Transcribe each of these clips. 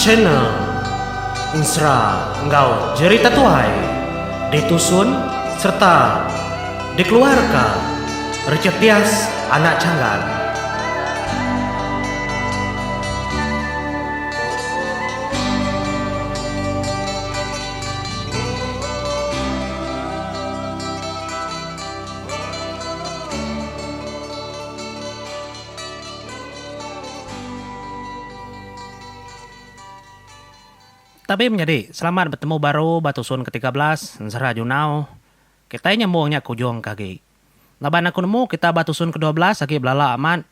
Channel Ensera enggau Jerita Tuai ditusun sereta dikeluarka Richard Dias Anak Changan. Tabi menyadi, selamat betemu baru ba tusun ke tiga belas ensera Junau. Kitai nyambung nya ke ujung ke agi. Laban aku nemu kita ba tusun ke dua belas agi belala amat.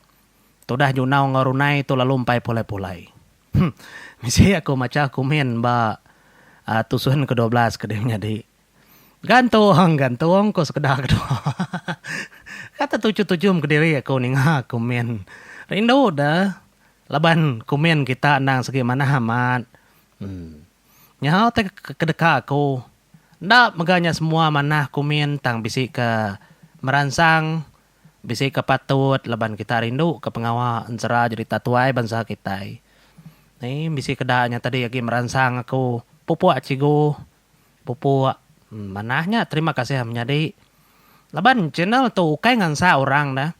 Tudah Junau enggau Runai tu lalu empai pulai-pulai. Huh. Bisi aku macha kumin ba tusun ke dua belas ke dih menyadi. Gantung, gantung ko sekeda kedua. Kata tujum-tujum kediri aku ninga komen. Rindu deh laban komen kita endang segi manah amat. Em. Nyau te ke deka aku enda mega nya semua manah komen tang bisi ke meransang, bisi ke patut laban kita rindu ke pengawa ensera jerita tuai bansa kitai. Em bisi ke da nya tadi agi meransang aku pupuk cikgu. pupuk manah nya terima kasih menyadi laban channel tu ukai ngansak orang dah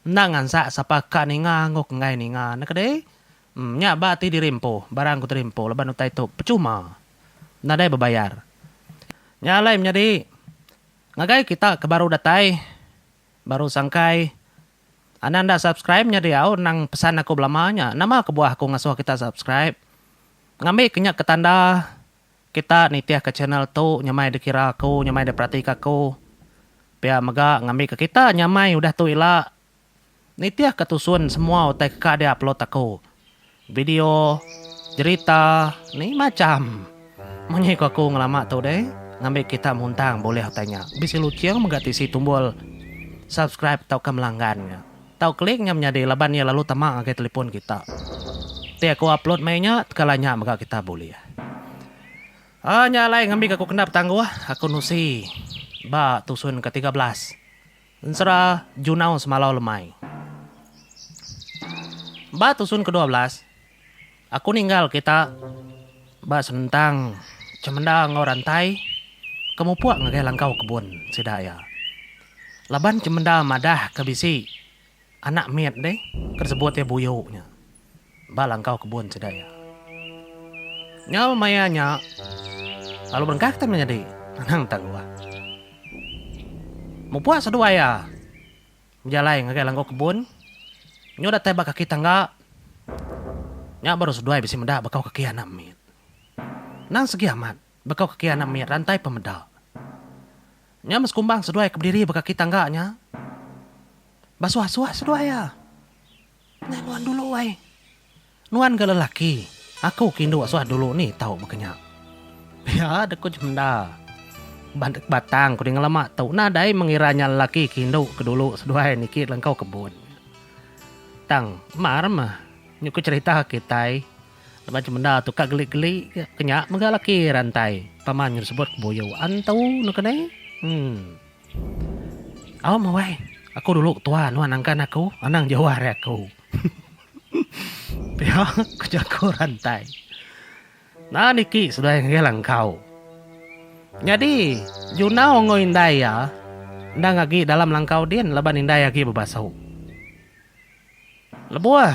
enda ngansak sapa ka ninga enggau ke enggai ninga enda ke deh nya ba ti diri empu barang ku diri empu laban utai tu percuma nadai bebayar nya alai menyadi ngagai kita ke baru datai baru sangkai anak enda subscribe nya diau nang pesan aku belama nya nama kebuah aku ngasuh kita subscribe ngambi ke nya ke tanda. Kita nitihka channel tu nyamai dikira aku, nyamai diperatika aku. Pia mega ngambika kita nyamai udah tu ila nitihka tusun semua utai ka dia upload aku. Video, jerita, ni macham. Munyi ku aku ngelama tu deh ngambi kita muntang bulih utai nya. Bisi luching mega ti isi tumbul subscribe tauka melanggan nya. Tau klik nya menyadi laban iya lalu tama ngagai telefon kita. Ti aku upload meh nya tekala nya mega kita bulih. Aaa nya alai ngambika aku kena betangguh aku nusi ba tusun ke tiga belas ensera junau semalau lemai. Ba tusun ke dua belas. Aku ninggal kita ba senentang cemenda enggau rantai ke mupuk ngagai langkau kebun sida iya. Laban cemenda madah ke bisi anak mit deh ke disebut iya Buyu nya ba langkau kebun sida iya. Nyau maya nya lalu berengkah kita enda nyadi anang tang luah. Mupuk seduai iya. Bejalai ngagai langgu kebun. Nyu datai ba kaki tangga. Nya baru seduai bisi meda bekau kaki anak mit. Nang segi amat, bekau kaki anak mit rantai pen meda. Nya meh sekumbang seduai ke bediri ba kaki tangga nya. Basuah-suah seduai iya. Nya nuan dulu ai. Nuan ga lelaki, aku ke indu suah dulu ni tau baka nya. Pia deh ku Jemda. Bandek batang ku deh ngelama tu nadai mengira nya lelaki ke indu ke dulu seduai niki lengkau kebun. Tang mar meh nyu ke cerita kitai laban Jemda tu ka geli-geli ga ke nya mega laki rantai paman nyu disebut Buyu Antu neke neh. Em. Au mawai aku dulu ketua nuan angkan aku anang jauh ari aku. Pia ku jaku rantai. Nan iki seduai ngagai langkau. Nyadi Junau enggau indai iya endang agi dalam langkau din laban indai agi bebasu. Lebuh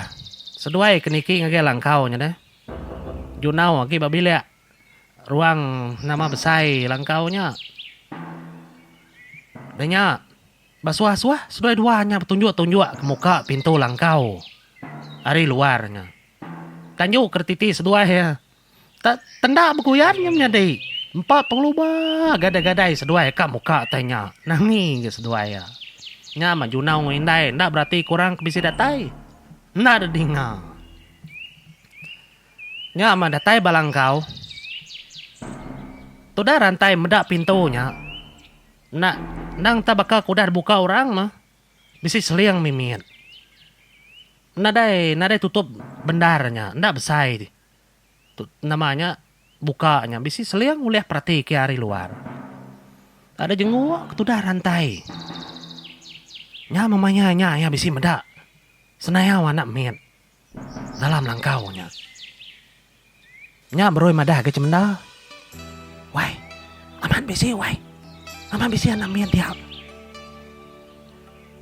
seduai ke niki ngagai langkau nya deh Junau agi ba bilik. ruang nama besai langkau nya. Da nya ba suah-suah seduai dua nya betunjuk-tunjuk ke muka pintu langkau ari luar nya. Kanyu ke retiti seduai iya te tenda beguyan nya menyadi empa pengeluba gadai-gadai seduai ka muka te nya. Nami ga seduai iya. Nya mah Junau enggau Indai enda berati ke orang ke bisi datai. Enda didinga. Nya mah datai bala enggau. Tudah rantai meda pintu nya. Enda endang tah baka ke udah dibuka orang mah. Bisi seling mimit. Nadai nadai tutup bendar nya. Enda besai ti tu nama nya buka nya. Bisi seling ulih perati ke ari luar. Ada jenguk ke tudah rantai. Nya mah maya nya iya bisi meda senayau anak mit. Dalam langkau nya. Nya beroi madah ga cemenda. Wai. Amat bisi wai. Amat bisi anak mit dia.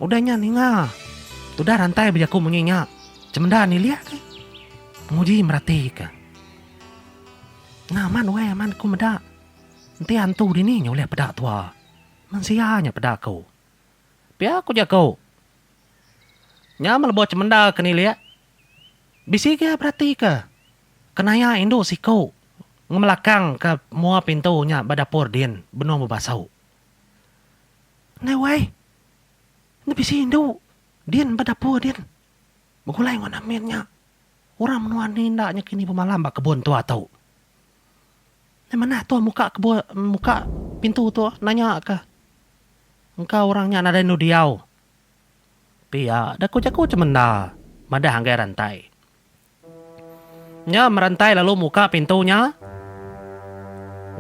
Udah nya ninga. Tudah rantai bejaku munyi nya. Cemenda nilih ke. Penguji merati ke. Nah amat wai amat ku meda. Enti antu dini nya ulih peda tua. Mensia nya peda ku. Pia ku jaku. Nya melebuh cemendar kenilik, bisi gia beratika kenaya indu siku ngemelakangka mua pintu nya ba dapur din benung bebasu. Neh wai, nya bisi indu din ba dapur din begulai enggau Namin nya. Orang menua enti enda nya kini bemalam ba kebun tua tu. Neh manah tu muka kebun muka pintu tu nanyaka engka orang nya nadai endu diau. Pia da ku jaku cemenda madah anggai Rantai. Nyam Rantai lalu muka pintu nya.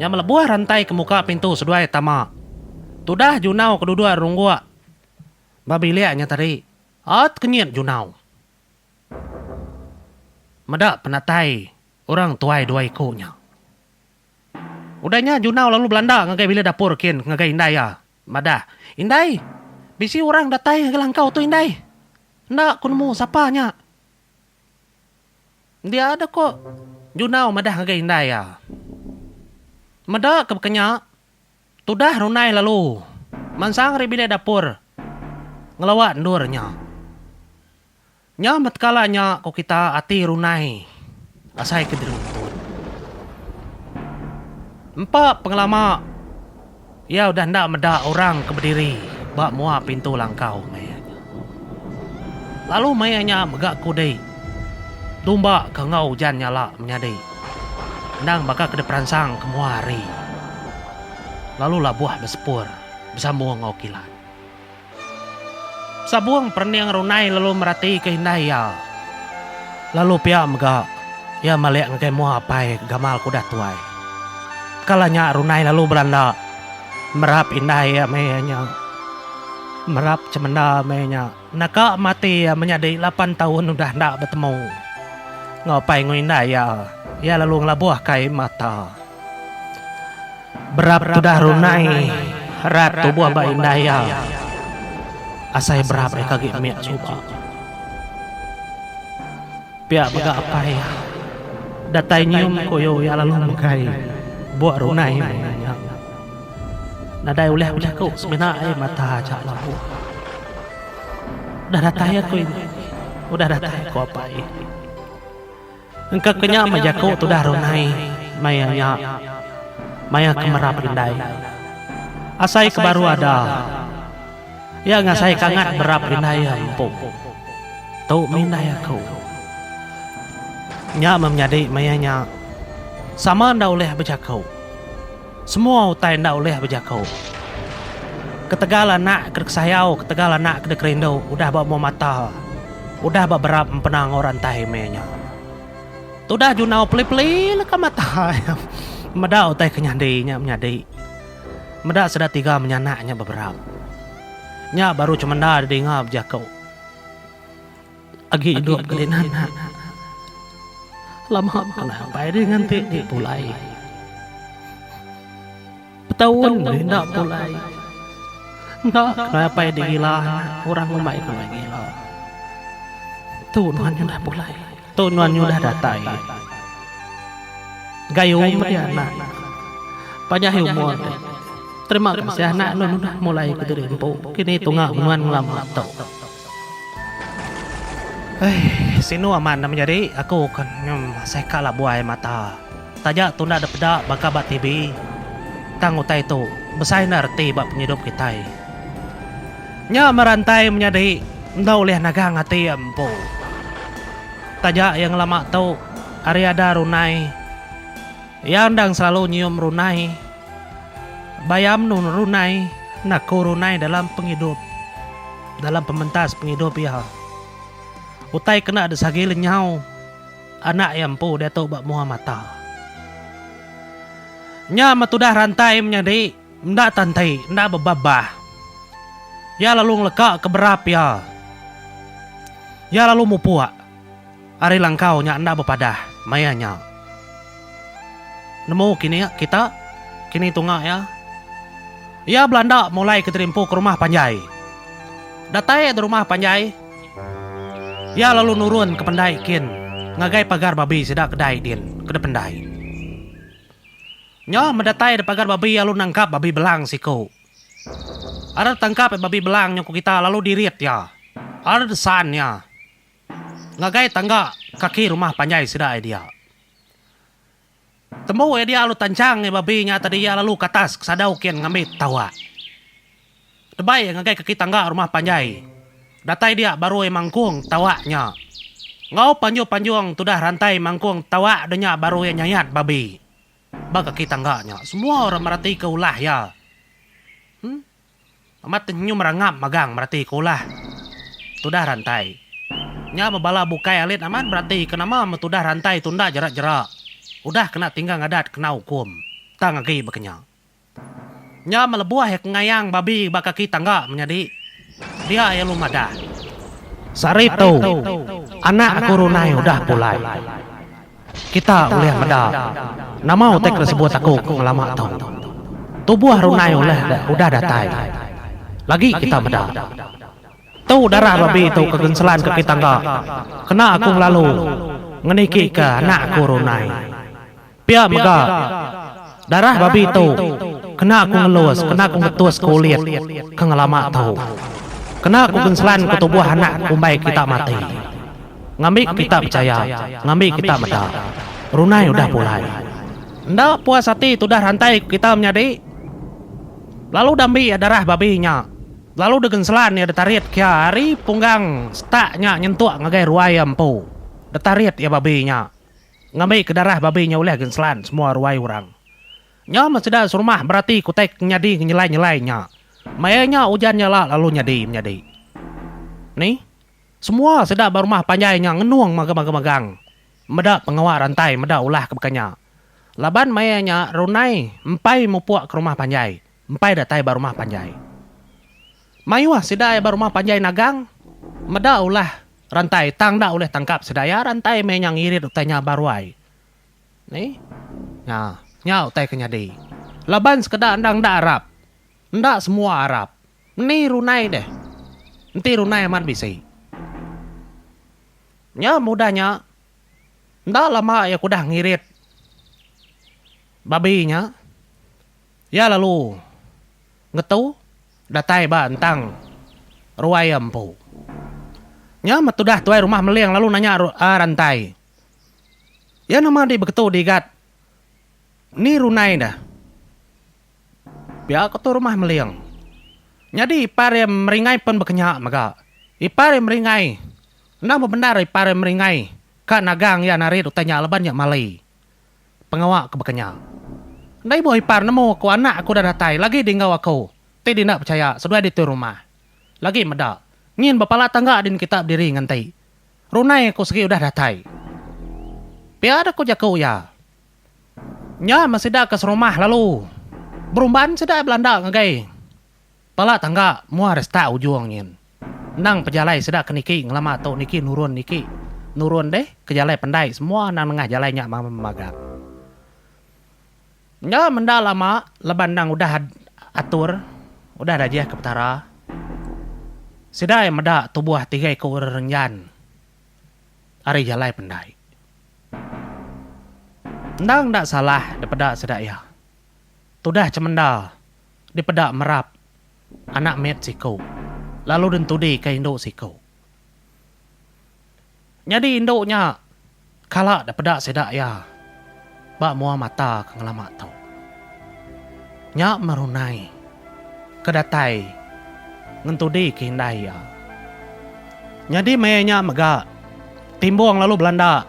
Nyam lebuh Rantai ke muka pintu seduai tama. Tudah Junau ke duduk rungguk ba bilik nya tadi. At kenyit Junau. Meda penatai orang tuai dua iku nya. Udah nya Junau lalu belanda ngagai bilik dapur kin ngagai indai iya. Madah, Indai, bisi orang datai ngagai langkau tu indai. Enda ku nemu sapa nya. Diada ko Junau madah ngagai indai iya. Meda ke baka nya, tudah rundai lalu mansang ari bilik dapur ngelawa endur nya. Nya betkala nya ko kita ati runai asai ke diruntut. Empa pengelama iya udah enda meda orang ke bediri ba mua pintu langkau maya nya. Lalu maya nya mega kudi dumba ke enggau ujan nyala menyadi endang baka ke diperansang ke mua hari lalu labuh besepur besambung enggau kilat. Sabung perening Runai lalu meratika indai iya. Lalu pia mega, iya malik ngagai mua apai ke gamal ke udah tuai. Kala nya Runai lalu belanda merap indai iya meh iya nya. Merap cemenda meh iya nya. Naka mati iya menyadi lapan taun udah enda betemu enggau apai enggau indai iya. Iya lalu ngelabuh kai mata. Berap tudah runai rat tubuh ba indai iya. Asai berap deka agi mih suba. Pia mega apai iya. Datai nyium koyo iya lalu megai buk runai meh nya. Nadai ulih bejaku semina ai mata aja labuh. Udah datai aku ini. Udah datai, ku apai. Engka ke nya meh jaku tudah runai maya nya maya ke merap indai. Asai ke baru ada iya ngasai kangat berap indai iya empu. Tu mindai aku. Nya meh menyadi maya nya sama enda ulih bejaku. Semua utai enda ulih bejaku. Ketegal anak ke dikesayau, ketegal anak ke dikerindu udah ba umur mata, udah ba berap empena enggau orang tai meh nya. Tudah junau peli-peli leka mata iya. Meda utai ke nyadi nya menyadi. Meda sida tiga menyanak nya beberap. Nya baru cemenda didinga bejaku. Agi idup ke dina anak. Lama kena ampai diri nganti ti pulai. Betaun meri enda pulai. Enda kena ampai digila anak orang ngumbai ku iya gila. Tu nuan nyudah pulai. Tu nuan nyudah datai. Gayu meri anak. Panjai umur dek. Terima kasih anak nuan udah mulai ke diri empu. Kini tunga nuan ngelama tu. Hei, sinu amat enda menyadi, aku ke nyem asai ka la buai mata. Taja tunda da peda baka ba TV. Tang utai tu besai enda reti ba pengidup kitai. Nya merantai menyadi enda ulih nagang ati iya empu. Taja iya ngelama tu ari ada runai, iya endang selalu nyium runai. Bayam nu runai enda ku runai dalam pengidup dalam pementas pengidup iya. Utai kena disagi lenyau anak iya empu diatu ba mua mata. Nya meh tudah rantai menyadi enda tanti enda bebabah. Iya lalu ngeleka ke berap iya. Iya lalu mupuk. Ari langkau nya enda bepadah maya nya. Nemu kini kita kini tunga iya. Iya belanda mulai ke terimpu ke rumah panjai. Datai di rumah panjai iya lalu nurun ke pendai kin ngagai pagar babi sida kedai din ke di pendai. Nya meh datai di pagar babi iya lalu nangkap babi belang siku. Ari tangkap babi belang nya ku kita lalu dirit iya. Ari desan iya. Ngagai tangga kaki rumah panjai sida ai dia. Tembu ai dia lalu tanchang ai babi nya tadi iya lalu katas kesada ukin ngambi tawak. Debai ai ngagai kaki tangga rumah panjai datai dia baru ai mangkung tawak nya. Enggau panjung-panjung tudah rantai mangkung tawak de nya baru iya nyayat babi. Ba kaki tangga nya semua orang meratika ulah iya. Em. Amat tenyum rangap magang merati ke ulah tudah rantai. Nya ba bala bukai alit amat merati ke nama meh tudah rantai tu enda jera-jera udah kena tinggal ngadat kena ukum tang agi baka nya. Nya meh lebuh iya kengayang babi ba kaki tangga menyadi dia iya lu madah. Sehari tu, anak aku Runai udah pulai. Kita ulih meda nama utai ke disebut aku ke ngelama tu. Tubuh runai ulih da udah datai. Lagi kita meda. Tu darah babi tu ke genselan ke kita engga kena aku ngelalu ngeniki ke anak aku runai. Pia mega. Darah babi tu kena aku ngelus, kena aku ngetus ke ulit ke ngelama tu. Kena aku genslan ke tubuh anak ke kumbai kita mati. Ngambi ke kita pechaya, ngambi kita meda, Brunei udah pulai. Enda puas ati tudah rantai ke kita menyadi. Lalu udah ambi iya darah babi nya, lalu degenslan iya detarit kia ari punggang setak nya nyentuk ngagai ruai iya empu. Detarit iya babi nya. Ngambi ke darah babi nya ulih genslan semua ruai urang. Nya men sida serumah merati kutai ke nyadi ngenyelai-nyelai nya. Maya nya ujan nya la lalu nyadi menyadi. Ni. Semua sida ba rumah panjai nya ngenung maga-maga magang meda pengawa rantai meda ulah ke baka nya. Laban maya nya Runai empai mupuk ke rumah panjai. Empai datai ba rumah panjai. Mayuh sida ai ba rumah panjai nagang. Meda ulah rantai tang enda ulih tangkap sida iya rantai meh inya ngirit utai nya ba ruai. Ni. Nya. Nya utai ke nyadi. Laban sekeda endang enda arap. Enda semua arap. Ni runai deh. Enti runai amat bisi. Nya meh udah nya. Enda lama iya ke udah ngirit babi nya. Iya lalu ngetu datai ba entang ruai iya empu. Nya meh tudah tuai rumah Meling lalu nanya Rantai, Iya nama dih begetu di gat ni runai dah? Pia ko tu rumah Meling, Nyadi ipar iya Meringai pen bekenya mega. Ipar iya Meringai, enda bebendar ipar iya Meringai ka nagang iya narit utai nya laban iya malai. Pengawa ke baka nya. Enda ibuh ipar nemu aku anak aku udah datai lagi di enggau aku, ti di enda pechaya seduai ditu rumah. Lagi meda, nyin bepala tangga din kita bediri nganti. Runai aku segi udah datai. Pia deh ku jaku iya. Nya men sida ke serumah lalu berumban sida belanda ngagai. Pala tangga muah restart ujung nyin. Endang pejalai sida ke niki ngelama tu niki nurun niki nurun deh ke jalai pendai semua endang nengah jalai nya magang. Nya menda lama laban endang udah atur udah dajih ke petara. Sida iya meda tubuh tiga iku orang renjan ari jalai pendai. Endang enda salah dipeda sida iya. Tudah cemenda. dipeda merap anak mit siku lalu dintudi ke indu siku. Nyadi indu nya kala dipeda sida iya ba mua mata ke ngelama tu. Nya merunai ke datai ngentudi ke indai iya. Nyadi maya nya mega, Timbong lalu belanda.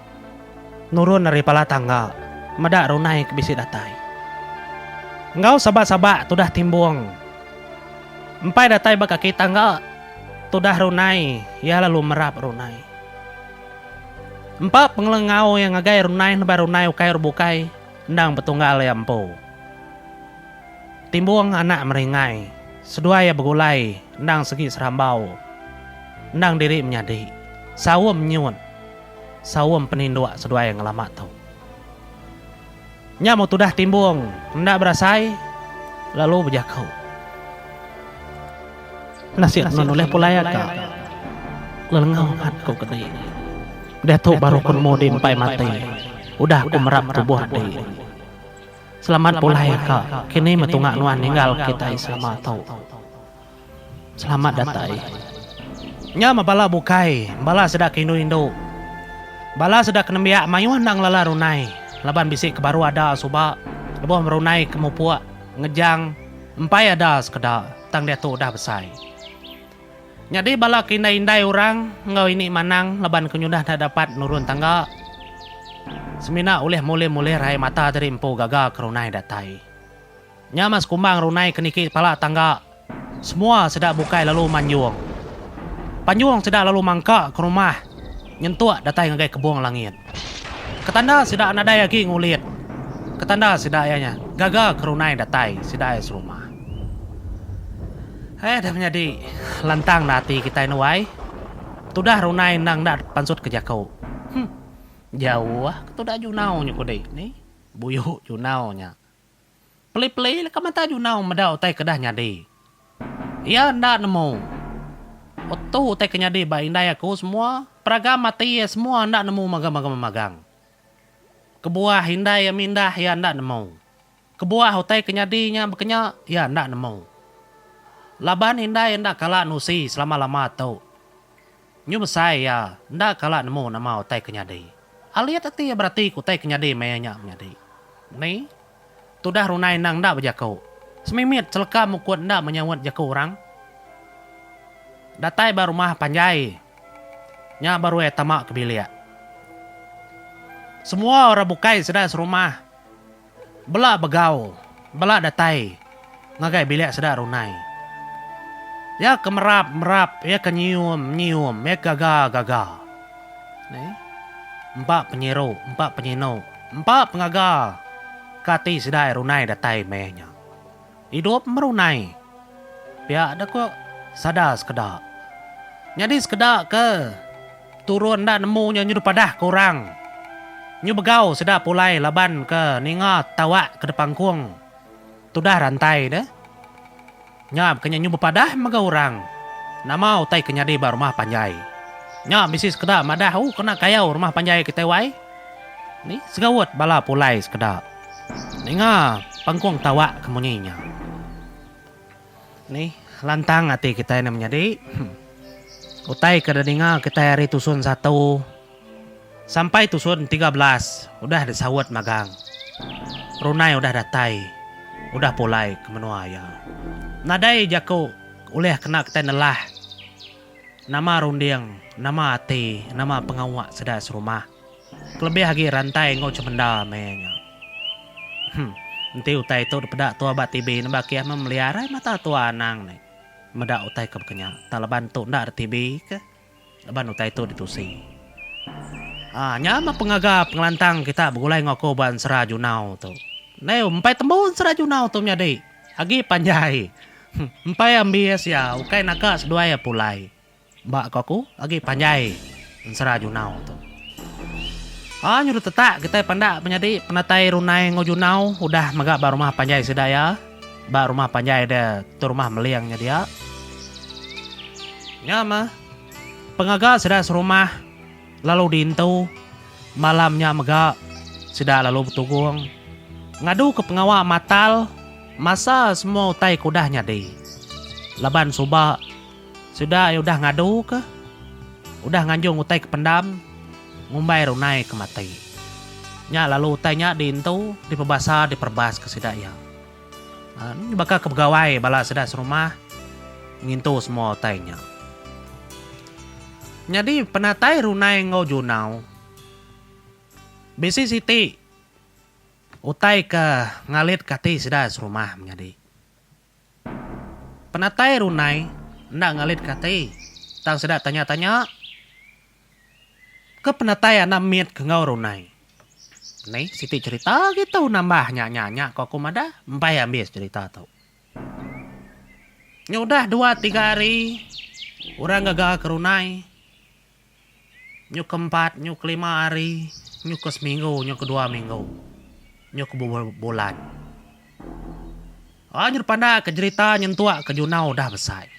Nurun ari pala tangga, meda runai ke bisi datai. Enggau sabak-sabak tudah timbung. Empai datai ba kaki tangga, tudah runai iya lalu merap runai. Empa pengelengau iya ngagai runai nubai runai ukai ur bukai endang betunggal iya empu. Timbung anak meringai, seduai iya begulai endang segi serambau. Endang diri menyadi. Saum nyut. Saum peninduk seduai ngelama tu. Nya meh tudah timbung enda berasai lalu bejaku. Nasit nun ulih pulai aka lelengau mat ku kedi. Diatu baru ku nemu di empai mati udah ku merap tubuh di. Selamat pulai aka kini meh tunga nuan ninggal kitai selama tu. Selamat datai. Nya meh bala bukai, bala sida ke indu-indu. Bala sida ke nembiak mayuh enda ngelala runai laban bisi ke baru ada suba lebuh merunai ke mupuk ngejang empai ada sekeda tang diatu udah besai. Nyadi bala ke indai-indai orang enggau ini manang laban ke nyudah enda dapat nurun tangga semina ulih mulim-ulih raie mata diri empu gaga ke runai datai. Nya mas kumbang runai ke niki pala tangga semua seda bukai lalu manjung. Panjung sida lalu mangka ke rumah nyentuk datai ngagai kebung langit. Ketanda sida nadai agi ngulit ketanda sida iya nya gaga ke runai datai sida iya serumah. Ai dah menyadi lantang dah ati kitai enu ai. Tudah runai endang enda pansut ke jaku. Huh. Jauh ah ketuda Junau nya kudi ni. Buyu Junau nya. Peli-peli deka mata Junau meda utai kedah nyadi. Iya enda nemu. Otu utai ke nyadi ba indai aku semua, peragam ati iya semua enda nemu magang-magang magang. Kebuah indai iya mindah iya enda nemu. Kebuah utai ke nyadi nya bekenya iya enda nemu. Laban indai enda kala nusi selama-lama tu. Nyu besai iya enda kala nemu nama utai ke nyadi. Alit ati iya berati ke utai ke nyadi maya nya menyadi. Meni tudah runai endang enda bejaku. Semimit seleka mukut enda menyaut jaku orang. Datai ba rumah panjai nya baru iya tama ke bilik. Semua orang bukai sida serumah Bela begau, bela datai ngagai bilik seda runai. Iya ke merap, merap, iya ke nyium, nyium, iya ke gaga, gaga. Neh. Empa penyiru, empa penyinu, empa pengaga ke ati sida ai runai datai meh nya. Idup merunai. Pia da ku sada sekeda. Nyadi sekeda ke turun enda nemu nya nyu dipadah ke orang. Nyu begau sida pulai laban ke ninga tawak ke dipangkung tudah rantai de. Nya bukannya nyu bepadah mega orang. Nama utai ke nyadi ba rumah panjai. Nya bisi sekeda madah oh kena kayau rumah panjai kitai wai. Ni segaut bala pulai sekeda. Ninga pengkung tawak ke munyi nya. Nih lantang ati kitai nih menyadi. Utai ke dininga kitai ari tusun satu sampai tusun tiga belas udah disaut magang. Runai udah datai, udah pulai ke menua iya. Nadai jaku ulih kena kitai nelah nama runding, nama ati, nama pengawa sida serumah. Kelebih agi rantai enggau cemenda meh nya. Hum. Enti utai tu dipeda tua ba TV nemba kiah meh melia arai mata tua anang nih. Meda utai ke baka nya. Tang laban tu enda ada TV kah. Laban utai tu ditusi. Haa nya meh pengaga pengelantang kita begulai enggau aku ba ensera junau tu. Neh empai tembu ensera junau tu menyadi. Agi panjai. Hum. Empai ambis iya ukai naga seduai iya pulai. Ba ko aku agi panjai ensera junau tu. Aa nyuruh tetak kitai pandak menyadi penatai runai enggau junau udah mega ba rumah panjai sida iya. Ba rumah panjai dia tu rumah meling nya dia. Nya mah pengaga sida serumah lalu diintu malam nya mega sida lalu betugung ngadu ke pengawa matal masa semua utai ke udah nyadi laban suba. Sida ai udah ngadu ke. Udah nganjung utai ke pendam, ngumbai runai ke mati. Nya lalu utai nya diintu, dipebasa, diperebas ke sida iya. Nya baka ke begawai bala sida serumah ngintu semua utai nya. Nyadi penatai runai enggau junau, bisi siti utai ke ngalitka ati sida serumah menyadi. Penatai Runai enda ngalitka ati, tang sida tanya-tanya, ke penatai anak mit ke enggau Runai. Mei siti cherita agi tu nambah nya nya nya ko aku madah empai ambis cherita tu. Nyudah dua tiga hari orang gaga ke Runai. Nyu ke empat, nyu ke lima hari, nyu ke seminggu, nyu ke dua minggu, nyu ke be bulan. Aja dipandaka jerita nyentuk ke Junau udah besai.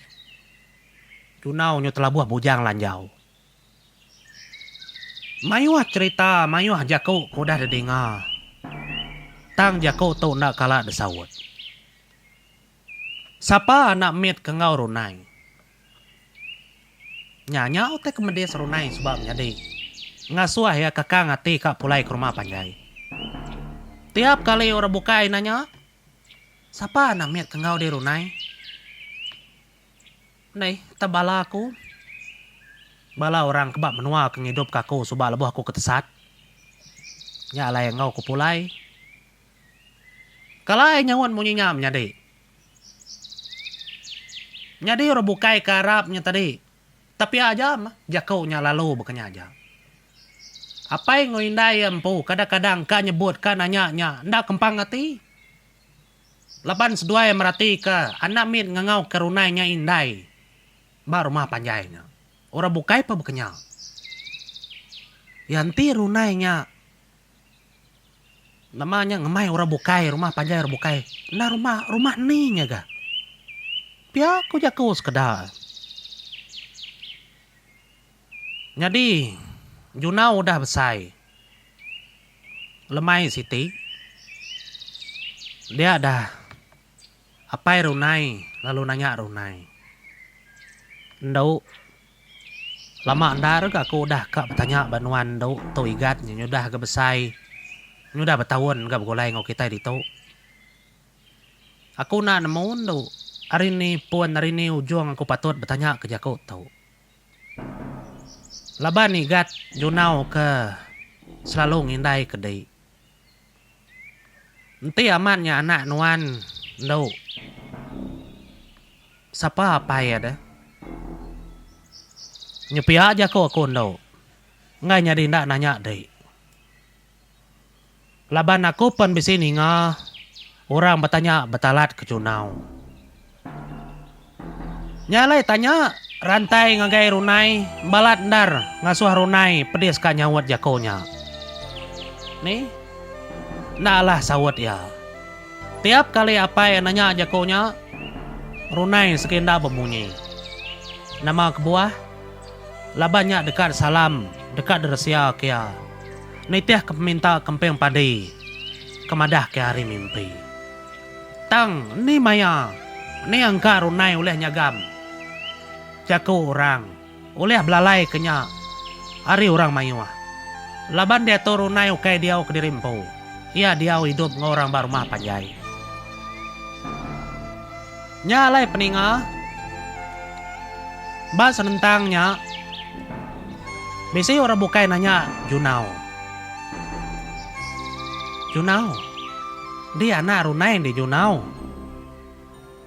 Junau nyu telabuh bujang lanjau. Mayuh jerita, mayuh jaku ke udah didinga. Tang jaku tu enda kala disaut. Sapa anak mit ke enggau runai. Nya nya utai ke medis runai suba menyadi ngasuh iya kakang ati ka pulai ke rumah panjai. Tiap kali orang bukai nanya, Sapa anak mit ke enggau dih runai? Neh tah bala aku. Bala orang ke ba menua ke ngidupka aku suba lebuh aku ke tesat. Nya alai enggau ku pulai. Kalai nyaut munyi nya menyadi. Nyadi orang bukai ke arap nya tadi. Tapi aja meh jaku nya lalu baka nya aja. Apai enggau indai iya empu kadang-kadang ka nyebut ka nanya nya enda kempang ati. Laban seduai merati ka anak mit ngangau ka runai nya indai ba rumah panjai nya. Orang bukai pun baka nya. Iya enti runai nya Nama nya ngemai orang bukai rumah panjai orang bukai enda rumah rumah ni nya ga. Pia ku jaku sekeda. Nyadi Junau udah besai lemai siti dia dah. Apai Runai lalu nanya Runai, Endu, lama endar ga aku udah ka betanya ba nuan endu Tu Igat nya nyudah ga besai, nyudah betaun ga begulai enggau kitai ditu. Aku enda nemu endu ari ni pun ari ni ujung aku patut betanya ke jaku tu. Laban Igat nyunau ke selalu ngindai ke dih. Enti amat nya anak nuan endo sapa apai iya deh nyepia jaku aku endo enggai nyadi enda nanya dei laban aku pen bisi ninga orang betanya betalat ke chunau Nya alai tanya Rantai ngagai Runai balat endar ngasuh Runai pedis ka nyaut jako nya. Ni? Enda alah saut iya. Tiap kali apai nanya jako nya, Runai segi enda bemunyi. Nama kebuah? Laban nya deka disalam, deka diresia ke iya nitih ke peminta kemping padi ke madah ke hari mimpi. Tang, eni maya eni engka runai ulih nyagam jaku orang ulih belalai ke nya ari orang mayuh. Laban diatu runai ukai diau kediri empu, iya diau idup enggau orang ba rumah panjai. Nya alai peninga, ba senentang nya bisi orang bukai nanya Junau. Junau. Dia enda runai di nyunau.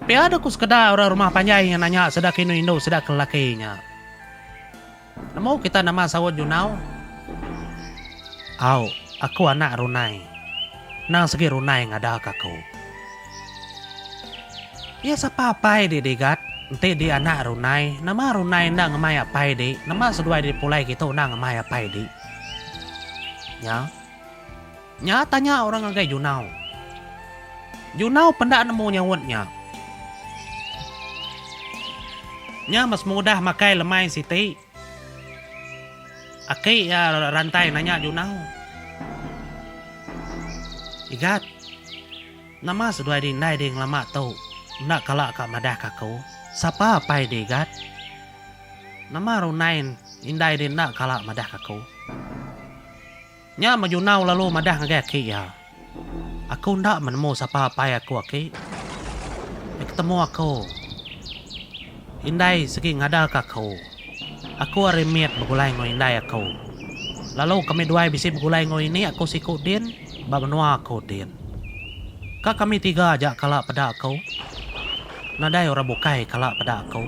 Pia dua ku sekeda orang rumah panjai iya nanya sida ke indu indu sida ke lelaki nya. Nemu kita nama saut nyunau? Au, aku anak runai. Nang segi runai ngada ka aku. Iya sapa apai di Digat? Enti di anak runai, nama runai enda ngemai apai di, nama seduai di pulai kitu enda ngemai apai di. Nya. Nya tanya orang ngagai Junau. Junau penda nemu nyaut nya. Nya mas mudah makai lemai siti. Aki iya rantai nanya Junau. Igat, nama seduai di indai di ngelama tu enda kala ka madah ka aku? Sapa apai di Igat? Nama runai indai di enda kala madah ka aku? Nya maju enggau lalu madah ngagai aki iya. Aku enda menemu sapa apai aku aki. Nya ketemu aku indai sigi ngadarka aku. Aku ari mit begulai enggau indai aku. Lalu kami duai bisi begulai enggau ini aku siku din ba menua aku din. Ka kami tiga aja kala peda aku. Nadai orang bukai kala peda aku.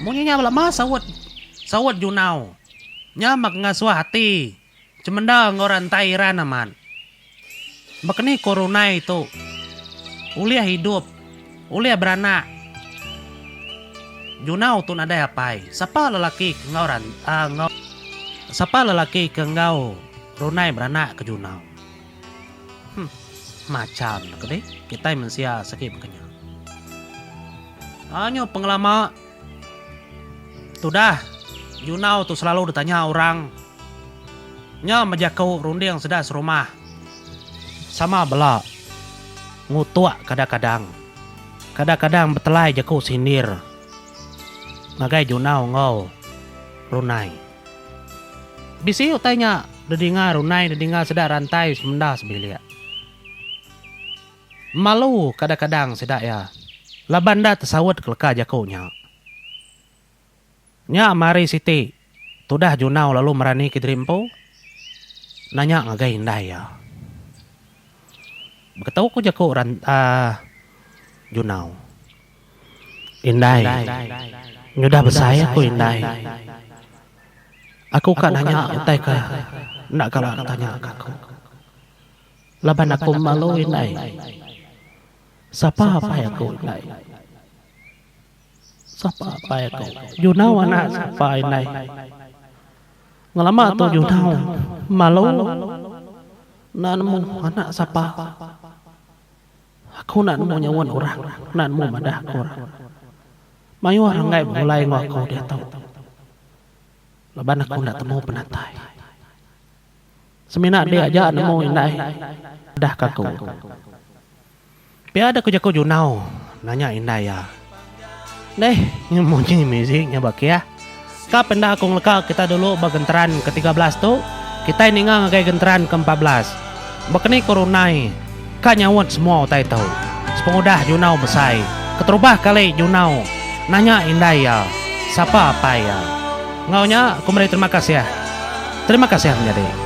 Munyi nya lama saut saut Junau. Nya meh ngasuh ati cemenda enggau orang entai Iran amat. Baka ni ku Runai tu, Ulih idup, ulih beranak junau tu nadai apai. Sapa lelaki ke enggau enggau sapa lelaki ke enggau Runai beranak ke junau. Huh macha meh ke dih kitai mensia segi baka nya. Anyu pengelama. Tudah, Junau tu selalu ditanya orang nya meh jaku runding sida serumah. Sama bela, Ngutuk kadang-kadang, kadang-kadang betelai jaku sindir ngagai Junau enggau Runai. Bisi utai nya didinga Runai didinga sida rantai semenda sebilik. Malu kadang-kadang sida iya laban enda tesaut keleka jaku nya. Nya mari siti tudah Junau lalu merani kediri empu nanya ngagai indai iya. Beketu ku jaku orang Junau. Indai nyudah besai aku indai. Aku ka nanya utai ke enda kala tanya ka aku. Laban aku malu indai. Sapa apai aku indai. Sapa apai aku. Junau anak sapa indai. Ngelama tu Junau malu enda nemu anak sapa. Aku enda nemu nyuan orang. Enda nemu madah ke orang. Mayuh renggai begulai enggau aku diatu. Laban aku enda temu penatai. Semina dek aja nemu indai udah kaku. Pia dek jaku junau nanya indai iya. Deh nyu munyi muzik nya ba kia. Ka penda aku ngeleka kita dulu ba genteran ke tiga belas tu kitai ninga ngagai genteran ke empat belas. Baka ni korunai. Ka nyaut semua utai tu. Sepengudah Junau besai, keterubah kali Junau nanya indai iya, sapa apai iya. Enggau nya, aku meri terima kasih. Terima kasih menyadi.